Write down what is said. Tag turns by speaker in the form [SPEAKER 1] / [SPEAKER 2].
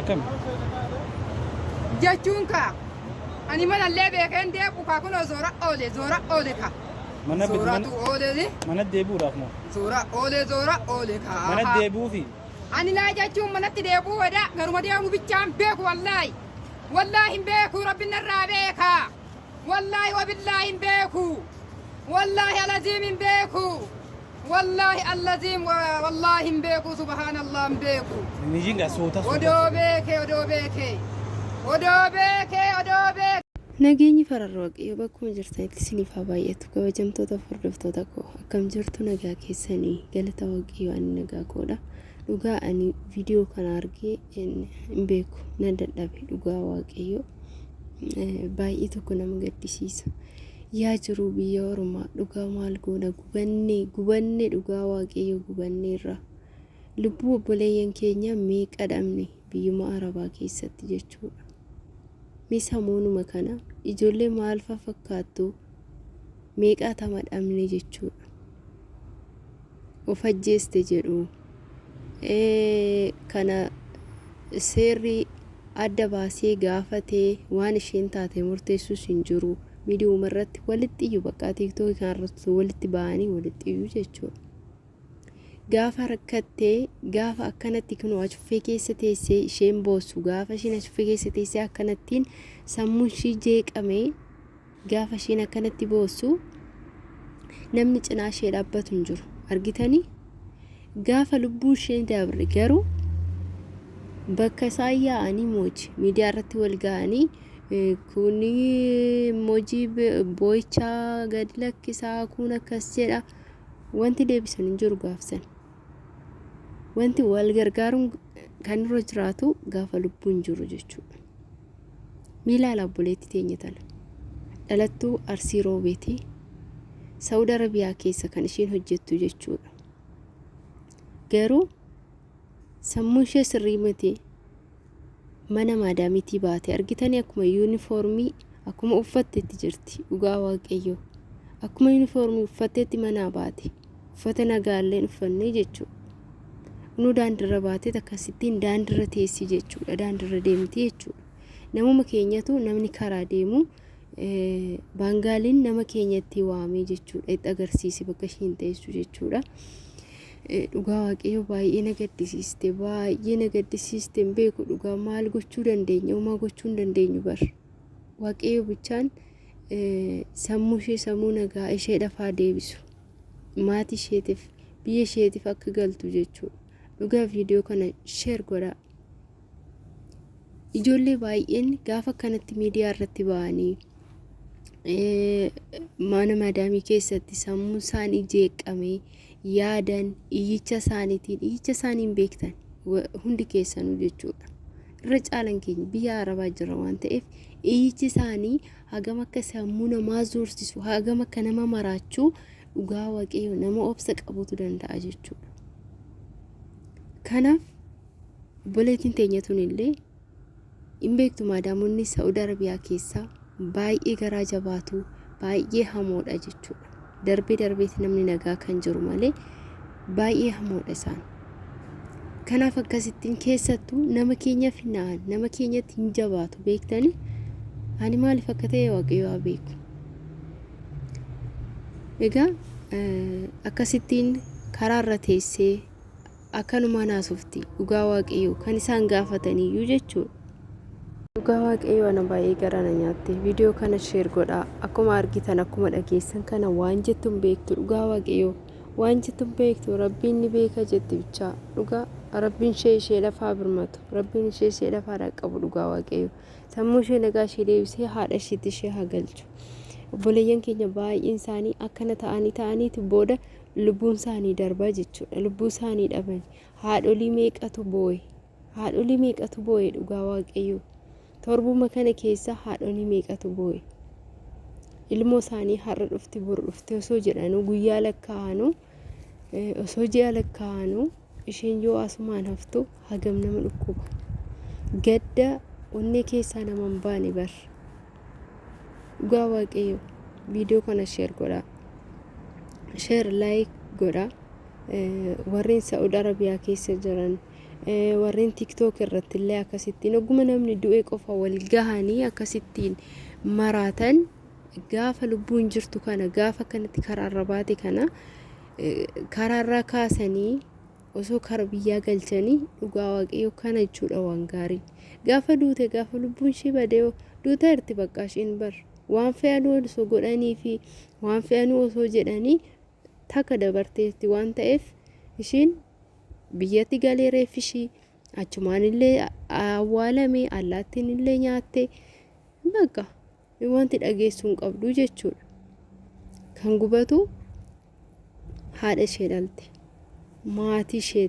[SPEAKER 1] Akkam?
[SPEAKER 2] jechuun kaa ani manallee beekeen deequ kaa kunoo zoora oole zoora oole kaa Mana bit- zooratu mana- oole Mana deebi'uudhaaf moo?
[SPEAKER 1] zoora oole
[SPEAKER 2] zoora oole kaa Mana deebi'uufi?
[SPEAKER 1] ani laa jechuun
[SPEAKER 2] manatti deebi'uu wadaa garuma deemu bichaan beeku wallaahi wallaahi hin beeku rabbi narraa beekaa Wallaahi wabillaahi hin beeku wallaahi alaziim hin beeku wallaahi allaziim wa- wallaahi hin beeku subhaanallah hin beeku Nijinga suuta
[SPEAKER 1] suuta. odoo beeke
[SPEAKER 2] odoo beeke odoo beeke odoo
[SPEAKER 3] beeke. Nageenyi fararra waaqayyo bakkuma jirtanitti isiniif haa baay'atu kabajamtoota hordoftoota koo akkam jirtu nagaa keessanii galata waaqayyo ani nagaa koodha Dhugaa ani viidiyoo kana argee hin beeku nan dadhabe dhugaa waaqayyoo baay'ee tokko nama gaddisiisa. Yaa jiruu biyya ormaa dhugaa maal goona gubannee gubannee dhugaa waaqayyoo gubannee irraa. Lubbuu obboleeyyan keenya meeqa dhabne biyyuma arabaa keessatti jechuudha. Mee samoonuma kana ijoollee maalfaa fakkaattu meeqaa tama dhabne jechuudha. of ajjeeste jedhu. Kana seerri adda baasee gaafatee waan isheen taate murteessus hin jiru. Miidiyuma irratti walitti iyyuu baqqaa tiiktookii kanarratti walitti ba'anii walitti iyyuu jechuudha. Gaafa rakkattee gaafa akkanatti kunoo acuffee keessa teessee isheen boossu gaafa isheen acuffee keessa teessee akkanattiin sammuun ishii jeeqamee Gaafa isheen akkanatti boossu namni cinaa ishee dhaabbatu hin jiru. Argitanii? Gaafa lubbuun ishee dabre garuu bakka isaan yaa'anii mooji miidiyaa irratti wal ga'anii kun mooji boo'ichaa gad lakkisaa kun akkas jedha wanti deebisan hin jiru gaafsan. Wanti wal gargaaruun kan irra jiraatu gaafa lubbuun jiru jechuudha. Mee laala obboleetti teenya tana. Dhalattuu Arsii Roobeeti. Sa'ud Arabiyaa keessa kan ishiin hojjettu jechuudha. Garuu sammuu ishee sirrii miti mana maadaamitii baate argitanii akkuma yuunifoormii akkuma uffattetti jirti dhugaa waaqayyoo akkuma yuunifoormii uffattetti manaa baate. uffata nagaallee hin uffannee jechuudha. Kunuu daandirra baatee akkasittiin daandirra teessii jechuudha. Daandirra deemti jechuudha. Namuma keenyatu namni karaa deemu baangaaliin nama keenyatti waamee jechuudha. Itti agarsiise bakka ishiin teessu jechuudha. Dhugaa waaqayyo baay'ee na gaddisiiste baay'ee na gaddisiiste hin beeku dhugaa maal gochuu dandeenya uumaa gochuu hin dandeenyu bar waaqayyo bichaan sammuu ishee sammuu nagaa isheedhaaf haa deebisu maatii isheetiif biyya isheetiif akka galtu jechuudha dhugaa viidiyoo kana sheer godhaa ijoollee baay'een gaafa kanatti miidiyaa irratti ba'anii mana madaamii keessatti sammuu isaanii jeeqame yaadan iyyicha isaaniitiin iyyicha isaaniin beektan hundi keessanuu jechuudha irra caalan keenya biyya arabaa jirra waan ta'eef iyyichi isaanii hagam akka sammuu namaa zoorsisu hagam akka nama maraachuu dhugaa waaqayyo nama obsa qabutu danda'a jechuudha. Kanaaf obboleettiin teenya tun illee hin beektu maadaamonni Saa'ud Arabiyaa keessaa baay'ee garaa jabaatu baay'ee hamoodha jechuudha. darbee darbeeti namni nagaa kan jiru malee baay'ee hamoodha isaan. Kanaaf akkasittiin keessattuu nama keenyaaf hin na'an nama keenyatti hin jabaatu beektanii ani maaliif akka ta'e waaqayyo haa beeku. Egaa akkasittiin karaa irra teessee Akkanumaan haasofti dhugaa waaqayyoo kan isaan gaafataniyyuu jechuudha. Dhugaa waaqayyoo ana baay'ee gara na nyaatte viidiyoo kana sheer godhaa akkuma argitan akkuma dhageessan kana waan jettu hin beektu dhugaa waaqayyoo waan jettu hin beektu rabbiin ni beeka jetti bichaa dhugaa rabbiin ishee ishee lafaa birmatu rabbiin ishee ishee lafaa dhaqqabu dhugaa waaqayyoo sammuu ishee nagaa ishee deebisee haadha isheetti ishee haa galchu obboleeyyan keenya baay'een isaanii akkana ta'anii ta'aniiti booda lubbuun isaanii darba jechuudha lubbuu isaanii dhaban haadholii meeqatu booye haadholii meeqatu booye dhugaa waaqayyoo torbuma kana keessa haadholii meeqatu booye ilmoo isaanii har'a dhufti bor dhufti osoo jedhanuu guyyaa lakkaa'anuu osoo ji'a lakkaa'anuu Isheen yoo asumaan haftu hagam nama dhukkuba. Gadda onnee keessaa nama hin baane bar. Dhugaa waaqayyo viidiyoo kana sheer godhaa. Sheer laayik godhaa. Eh, Warreen Sa'ud Arabiyaa keessa jiran eh, warreen tiktook irratti illee akkasittiin ogguma namni du'e qofa wal gahanii akkasittiin maraatan gaafa lubbuun jirtu kana gaafa kanatti karaarra baate kana karaarraa kaasanii osoo kara biyyaa galchanii dhugaa waaqayyo kana jechuudha waan gaarii gaafa duute gaafa lubbuun ishee badee duuta irti baqqaa isheen bar waan fe'anuu osoo godhanii fi waan fe'anuu osoo jedhanii takka dabarteetti waan ta'eef isheen biyyatti galee reeffi ishii achumaan illee awwaalame allaattiin illee nyaatte bakka Wanti dhageessu hin qabdu jechuudha. Kan gubatu haadha ishee dhalte. Maatii ishee